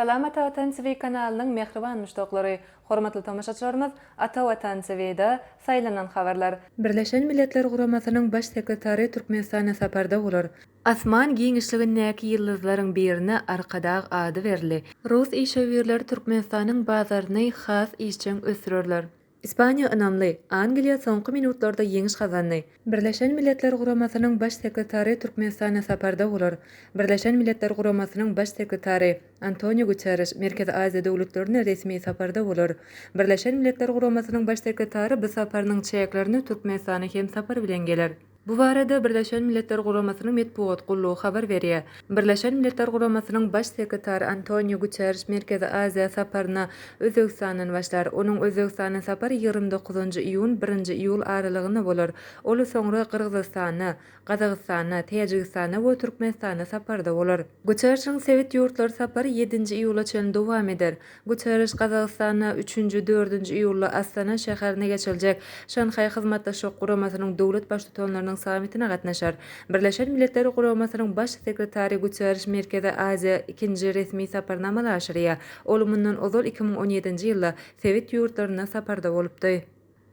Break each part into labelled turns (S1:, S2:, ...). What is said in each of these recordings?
S1: Salam Ata Watan TV kanalynyň mähriban muşdaklary, hormatly tomaşaçylarymyz Ata Watan TVda saýlanan habarlar. Birleşen Milletler Guramasynyň Baş sekretary Türkmenistana saparda bolar. Asman giňişligindäki ýyldyzlaryň birine Arkadag ady berildi. Rus işewürleri Türkmenistanyň bazaryny has işjeň ösdürerler. Ispaniýa ynamly, Angliýa soňky minutlarda ýeňiş gazandy. Birleşen Milletler Guramasynyň Baş sekretary Türkmenistana saparda bolar. Birleşen Milletler Guramasynyň Baş sekretary Antoniu Guterriş Merkezi Aziýa döwletlerine resmi saparda bolar. Birleşen Milletler Guramasynyň Baş sekretary bu saparynyň çäklerinde Türkmenistana hem sapar bilen geler. Bu barada Birleşen Milletler Guramasynyň metbugat gullugy habar berýär. Birleşen Milletler Guramasynyň Baş sekretary Antonio Guterriş Merkezi Aziýa saparyna Özbegistandan başlar. Onuň Özbegistana sapary ýigrimi dokuzynjy iýun, birinji iýul aralygynda bolar. Ol soňra Gyrgyzystana, Gazagystana, Täjigistana we Türkmenistana saparda bolar. Guterrişiň sebit ýurtlar sapary ýedinji iýula çenli dowam eder. Guterriş Gazagystanda üçünji, dördünji iýulda Astana şäherinde geçiriljek Şanhaý Hyzmatdaşlyk Guramasynyň döwlet Baştutanlarynyň sammitine gatnaşar. Birleşen Milletler Guramasynyň Baş sekretary Guterriş Merkezi Aziýa ikinji resmi saparyny amala aşyrýar, ol mundan ozal iki müň on ýedinji ýylda sebit ýurtlarynda saparda bolupdy.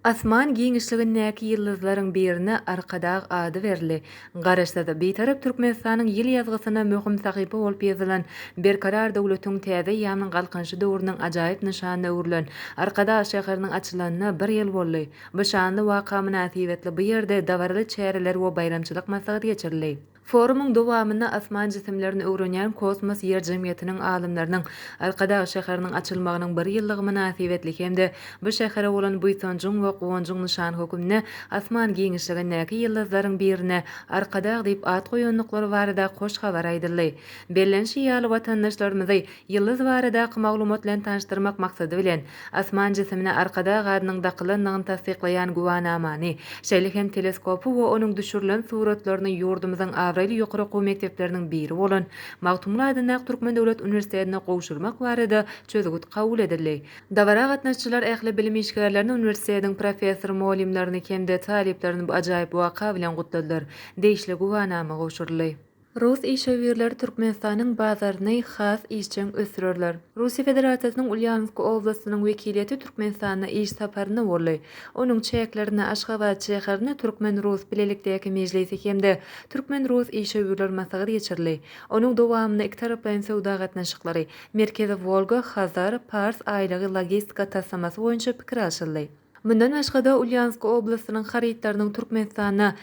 S1: Asman giňişligindäki ýyldyzlaryň birine Arkadag ady berildi. Garaşsyz, Bitarap Türkmenistanyň ýyl ýazgysyna möhüm sahypa bolup ýazylan, Berkarar döwletiň täze eýýamynyň Galkynyşy döwrüniň ajaýyp nyşanyna öwrülen Arkadag şäheriniň açylanyna bir ýyl boldy. Bu şanly waka mynasybetli bu ýerde dabaraly çäreler we baýramçylyk maslahaty geçirildi. Forumyň dowamynda Asman jisimlerini öwrenýän Kosmos Ýer jemgyýetiniň alymlarynyň Arkadag şäheriniň açylmagynyň bir ýyllygy mynasybetli hem-de bu şähere bolan buýsanjyň we guwanjyň nyşany hökmünde asman giňişligindäki ýyldyzlaryň birine Arkadag diýip at goýandyklary barada hoş habar aýdyldy. Bellenişi ýaly, watandaşlarymyzy Ýyldyz baradaky maglumat bilen tanyşdyrmak maksady bilen, asman jisimine Arkadag adynyň dakylandygyny tassyklaýan güwanamany, şeýle hem teleskopy we onuň düşürilen suratlaryny ýurdumyzyň abraýly ýokary okuw mekdepleriniň biri bolan Magtymguly adyndaky Türkmen döwlet uniwersitetine gowşurmak barada çözgüt kabul edildi. Dabara gatnaşyjylar ähli bilim işgärlerini, uniwersitetiň professor-mugallymlaryny hem-de talyplaryny bu ajaýyp waka bilen gutladylar. Degişli güwanama gowşuryldy. Rus işewürleri Türkmenistanyň bazaryny has işjeň ösdürerler. Russiýa Federasiýasynyň Ulýansk oblastynyň wekiliýeti Türkmenistanda iş saparynda boldy. Onuň çäklerinde Aşgabat şäherinde Türkmen-rus bilelikdäki mejlisi hem-de Türkmen-rus işewürler maslahaty geçirildi. Onuň dowamynda ikitaraplaýyn söwda gatnaşyklary, Merkezi Wolga, Hazar, Pars aýlagy logistika taslamasy boýunça pikir alşyldy. Mundan başga-da, Ulýansk oblastynyň harytlarynyň Türkmenistana,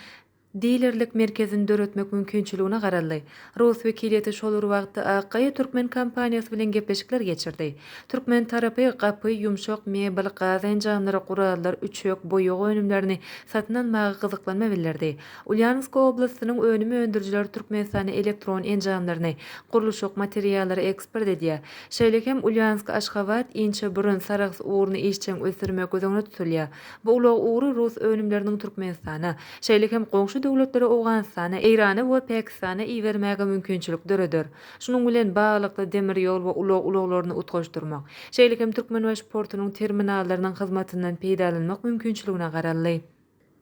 S1: Dilerlik merkezini döretmek mümkinçiligine garaldy. Rus wekiliýeti şol bir wagtda Akgaýa türkmen kompaniýasy bilen gepleşikler geçirdi. Türkmen tarapy gapy, ýumşak mebel, gaz enjamlary, gurallar, üçek, boýag önümlerini satyn almaga gyzyklanma bildirdi. Ulýanowsk oblastynyň önüm öndürijileri Türkmenistana elektron enjamlaryny, gurluşyk materiallary eksport edýär. Şeýle hem Ulýansk, Aşgabat, Inçeburun, Sarahs ugruny işjeň ösdürmek göz öňünde tutulýar. Bu ulag ugry rus önümleriniň Türkmenistana, şeýle hem goňşy döwletlere Owganystana, Eýrana we Pakistana iberilmäge mümkinçilik döreder. Şunuň bilen baglylykda demir ýol we ulag ulaglaryny utgaşdyrmak, şeýle hem Türkmenbaşy portunyň terminallarynyň hyzmatyndan peýdalanmak mümkinçiligine garaldy.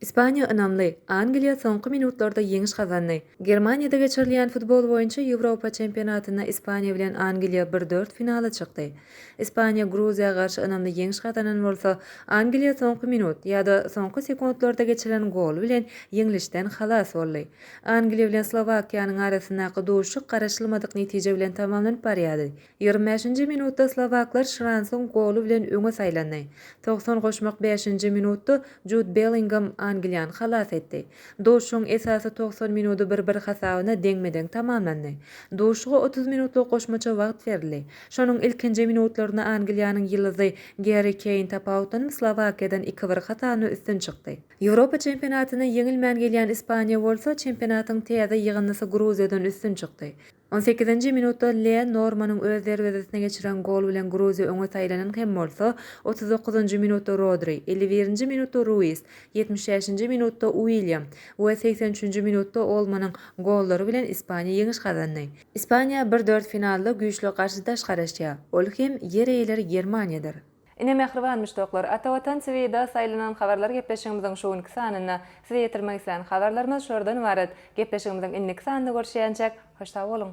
S1: Ispaniýa ynamly, Angliýa soňky minutlarda ýeňiş gazandy. Germaniýada geçirilýän futbol boýunça Ýewropa çempionatynda Ispaniýa bilen Angliýa bir dört finala çykdy. Ispaniýa Gruziýa garşy ynamly ýeňiş gazanan bolsa, Angliýa soňky minut, ýa-da soňky sekuntlarda geçirilen gol bilen ýeňlişden halas boldy. Angliýa bilen Slowakiýanyň arasyndaky duşuşyk garaşylmadyk netije bilen tamamlanyp barýardy. Ýigrimi bäşinji minutda slowaklar Şransyň goly bilen öňe saýlandy. Togsan goşmak bäşinji minutda Jud Bellingam Angliýany halas etdi. Duşuşygyň esasy togsan minudy bir-bir hasabyna deňme-deň tamamlandy. Duşuşyga otuz minutlyk goşmaça wagt berildi. Şonuň ilkinji minutlarynda Angliýanyň ýyldyzy Gerri Keýn tapawutlanm Slowakiýadan iki-bir hasabyna üstün çykdy. Ýewropa çempionatyna ýeňilmän gelýän Ispaniýa bolsa, çempionatyň täze ýygyndysy Gruziýadan üstün çykdy. On sekizinji minutda Lee Normanyň öz derwezesine geçiren goly bilen Gruziýa öňe saýlanan hem bolsa, otuz dokuzynjy minutda Rodri, elli birinji minutda Ruiz, ýetmiş bäşinji minutda Uilýam we segsen üçünji minutda Olmonyň gollary bilen Ispaniýa ýeňiş gazandy. Ispaniýa bir dört finalda güýçli garşydaş garaşýar, ol hem ýer eýeleri Germaniýadyr. Ine mähriban muşdaklar, Ata Watan TVda saýlanan habarlar gepleşigimiziň şu günki sanynda size ýetirmek islän habarlarymyz şulardan ybarat. Gepleşigimiziň indiki sanynda görüşýänçäk, hoş sag boluň!